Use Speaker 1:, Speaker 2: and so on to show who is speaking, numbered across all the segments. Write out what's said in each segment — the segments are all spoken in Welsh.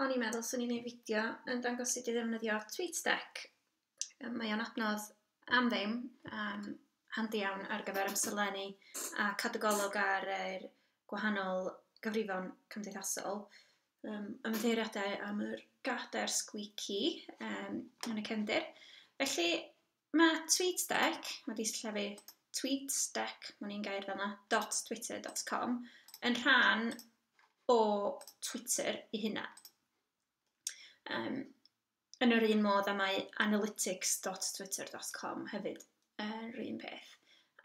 Speaker 1: o'n i'n meddwl swn i'n gwneud fideo yn dangos sut i ddefnyddio TweetDeck. Yym, mae o'n adnodd am ddim, yym, handi iawn ar gyfer amserlennu a cadw golwg ar yr gwahanol gyfrifon cymdeithasol. Yym, ymddiheuriadau am yr gadair sgwîci yym yn y cefndir. Felly, Mae TweetDeck wedi sillafu tweetsdeck, mae'n un gair fanna, dot twitter dot com, yn rhan o Twitter ei hunan. Um, yn yr un modd a mae analytics dot twitter dot com hefyd yn yr un peth.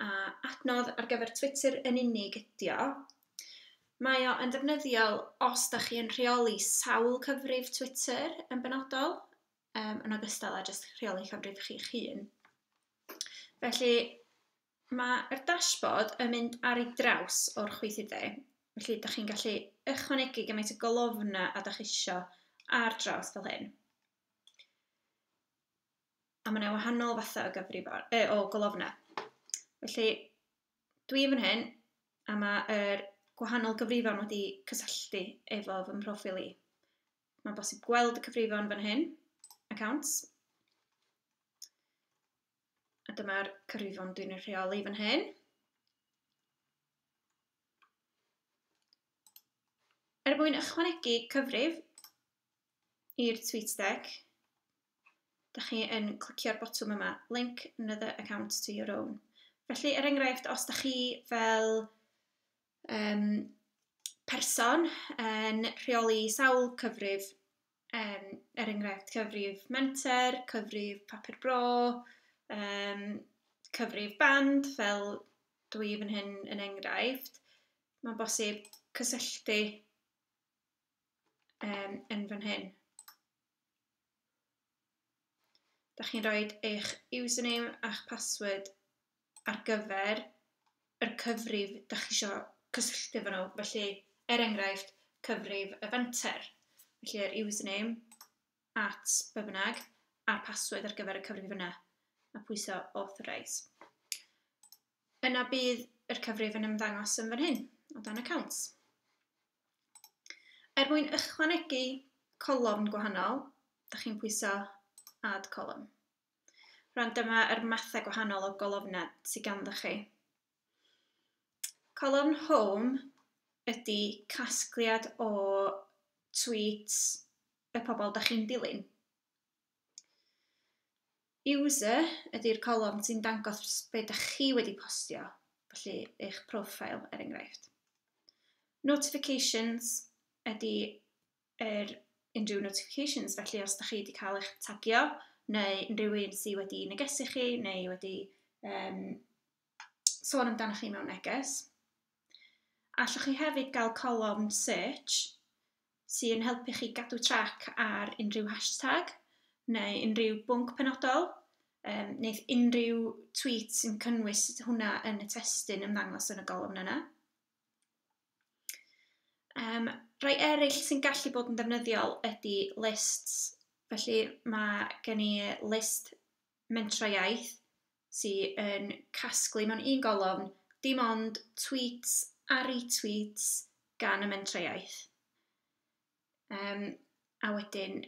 Speaker 1: A adnodd ar gyfer Twitter yn unig ydi o. Mae o yn defnyddiol os da chi yn rheoli sawl cyfrif Twitter yn benodol, um, yn ogystal â jyst rheoli llofrudd chi'ch hun. Felly, mae'r dashboard yn mynd ar ei draws o'r chwythydau. Felly, da chi'n gallu ychwanegu gymaint o golofna a da chi eisiau ar draws fel hyn. A mae yna wahanol fathau o, gyfrifon, e, o golofna. Felly, dwi fan hyn, a mae'r er gwahanol gyfrifon wedi cysylltu efo fy mhroffil i. Mae'n bosib gweld y cyfrifon fan hyn, accounts. A dyma'r cyfrifon dwi'n ei rheoli fan hyn. Er mwyn ychwanegu cyfrif i'r tweet deck, da chi yn clicio'r botwm yma, link another account to your own. Felly, er enghraifft, os da chi fel um, person yn rheoli sawl cyfrif, um, er enghraifft cyfrif menter, cyfrif papur bro, um, cyfrif band fel dwi i fan hyn yn enghraifft. Mae'n bosib cysylltu um, yn fan hyn. Da chi'n rhoi eich username a'ch password ar gyfer yr cyfrif da chi isio cysylltu efo nhw, felly er enghraifft cyfrif y fenter, felly yr username at be bynnag a'r password ar gyfer y cyfrif yna a pwyso authorise. yna bydd yr cyfrif yn ymddangos yn fan hyn, o dan Accounts. Er mwyn ychwanegu colofn gwahanol, da chi'n pwyso Add Column. Rwan dyma yr mathau gwahanol o golofnau sydd ganddo chi. Colofn Home ydy casgliad o tweets y pobl da chi'n dilyn. User ydy'r colofn sy'n dangos be dych chi wedi postio, felly eich profile er enghraifft. Notifications ydy yr unrhyw notifications, felly os dych chi wedi cael eich tagio neu unrhyw un sydd wedi negesu chi neu wedi yym sôn amdanoch chi mewn neges. Allwch chi hefyd gael colofn search sy'n helpu chi gadw trac ar unrhyw hashtag neu unrhyw bwnc penodol, um, neu unrhyw tweet sy'n cynnwys hwnna yn y testyn ymddangos yn y golofn yna. Um, rhai eraill sy'n gallu bod yn defnyddiol ydy lists. Felly mae gen i list mentrau iaith sy yn casglu mewn un golofn dim ond tweets a retweets gan y mentrau iaith. Um, a wedyn,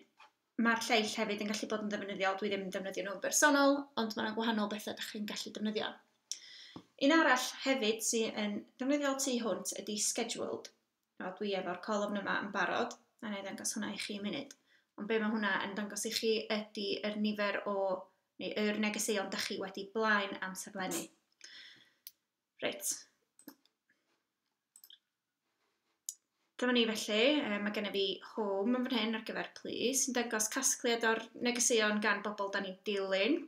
Speaker 1: mae'r lleill hefyd yn gallu bod yn ddefnyddiol, dwi ddim yn defnyddio nhw'n bersonol, ond mae'n gwahanol bethau ydych chi'n gallu defnyddio. Un arall hefyd sy'n yn ddefnyddiol tu hwnt ydy Scheduled. Nawr dwi efo'r colofn yma yn barod, a wna i ddangos hwnna i chi munud. Ond be mae hwnna yn dangos i chi ydy yr nifer o, neu yr negeseuon da chi wedi blaen amserlennu. Reit. Dyma ni felly, e, mae gennym fi home yn fan hyn ar gyfer plis, yn dangos casgliad o'r negeseuon gan bobl da ni'n dilyn.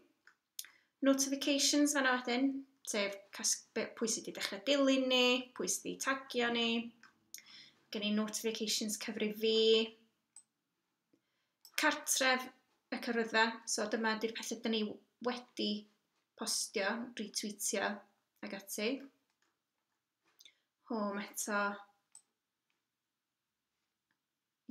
Speaker 1: notifications fanna wedyn, sef pwy sydd wedi dechrau dilyn ni, pwy sydd wedi tagio ni, gen i notifications cyfrif fi, cartref y cyfrydda, so dyma ydy'r pethau dyn ni wedi postio, retweetio ag ati. Home eto.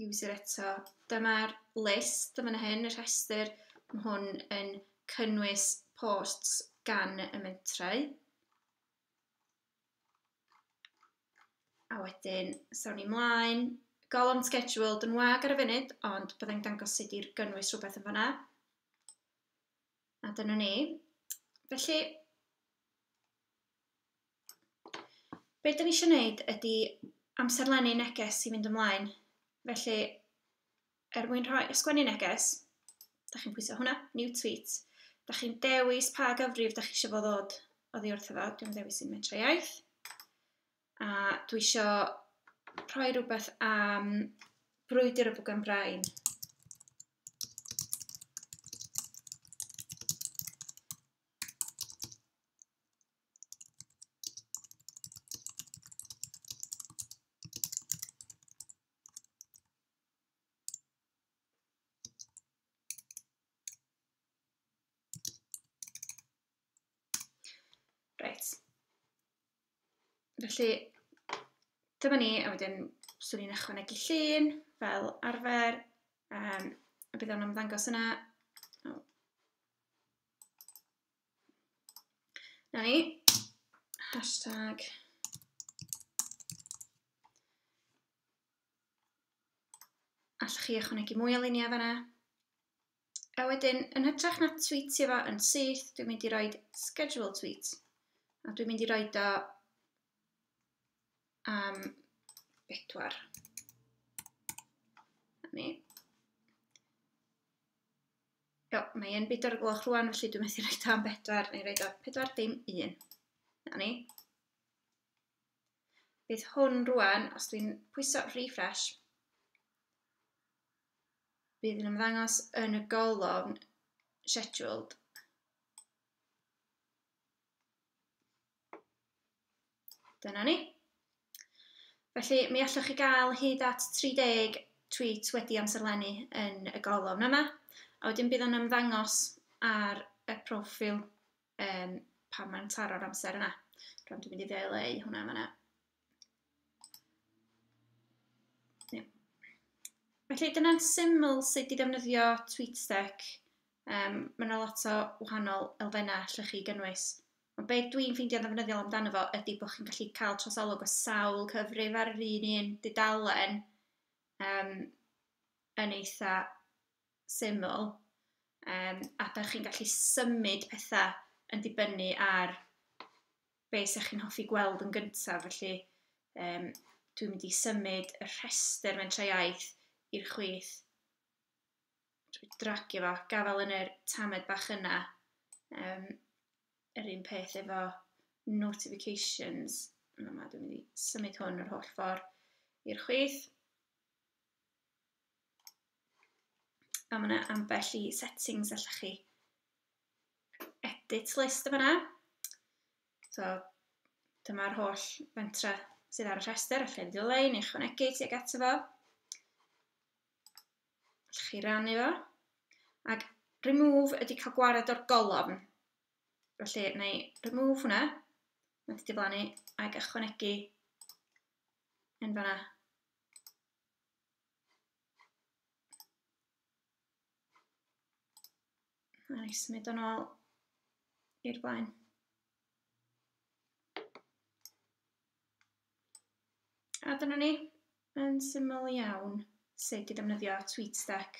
Speaker 1: user eto. Dyma'r list yn fan hyn, y rhestr. Mae hwn yn cynnwys posts gan y mentrau. A wedyn, sawn ni mlaen. Golofn scheduled yn wag ar y funud, ond byddai'n dangos sut i'r gynnwys rhywbeth yn fanna. A dyna ni. Felly, Be dan ni isio wneud ydy amserlennu neges i fynd ymlaen, felly er mwyn rhoi... sgwennu neges, dach chi'n pwyso hwnna, New Tweet, dach chi'n dewis pa gyfrif dach chi eisiau fo ddod oddi wrtho fo, dwi'n dewis un Metrau Iaith, a dwi isio rhoi rhywbeth am brwydr y bwgan brain. Reit. Felly, dyma ni, a wedyn swn i'n ychwanegu llun fel arfer, um, a bydd o'n ymddangos yna. Na ni. Hashtag. Allwch chi ychwanegu mwy o luniau fanna. A wedyn, yn hytrach na tweetio fo yn syth, dwi'n mynd i roi schedule tweet. A dwi'n mynd i roi do am um, bedwar. Ni. Iawn, mae e'n bedwar o gloch rwan, felly dwi'n methu rhaid am bedwar, neu rhaid o pedwar dim un. Na ni. Bydd hwn rwan, os dwi'n pwyso refresh, bydd yn ymddangos yn y golofn scheduled. Dyna ni. Felly, mi allwch chi gael hyd at 30 tweet wedi amserlennu yn y golofn yma, a wedyn bydd o'n ymddangos ar y profil um, pan mae'n taro'r amser yna. Rwy'n dwi'n mynd i ddeuleu hwnna yma. Felly dyna'n syml sut i ddefnyddio TweetDeck. Um, mae yna lot o wahanol elfennau allwch chi gynnwys. Ond be dwi'n ffeindio'n ddefnyddiol amdano fo ydy bod chi'n gallu cael trosolwg o sawl cyfrif ar yr un un dudalen um, yn eitha syml. Um, a da chi'n gallu symud pethau yn dibynnu ar be sy'ch chi'n hoffi gweld yn gyntaf, felly um, dwi'n mynd i symud y rhestr mentra iaith i'r chwith. Dwi'n dragio fo, gafael yn yr tamed bach yna. Um, yr un peth efo notifications. Yma dwi'n mynd i symud hwn yr holl ffordd i'r chwith. A mae yna ambell i settings allwch chi edit list yn fanna. So, dyma'r holl fentra sydd ar y rhestr, allai ddileu neu chwanegu tuag ato fo. Allwch chi rannu fo. Ac remove ydy cael gwared o'r golofn. Felly, na i remove hwnna. Mae'n wedi diflannu ac ychwanegu yn fanna. A ni symud yn ôl i'r blaen. A dyna ni, yn syml iawn, sut i ddefnyddio TweetStack.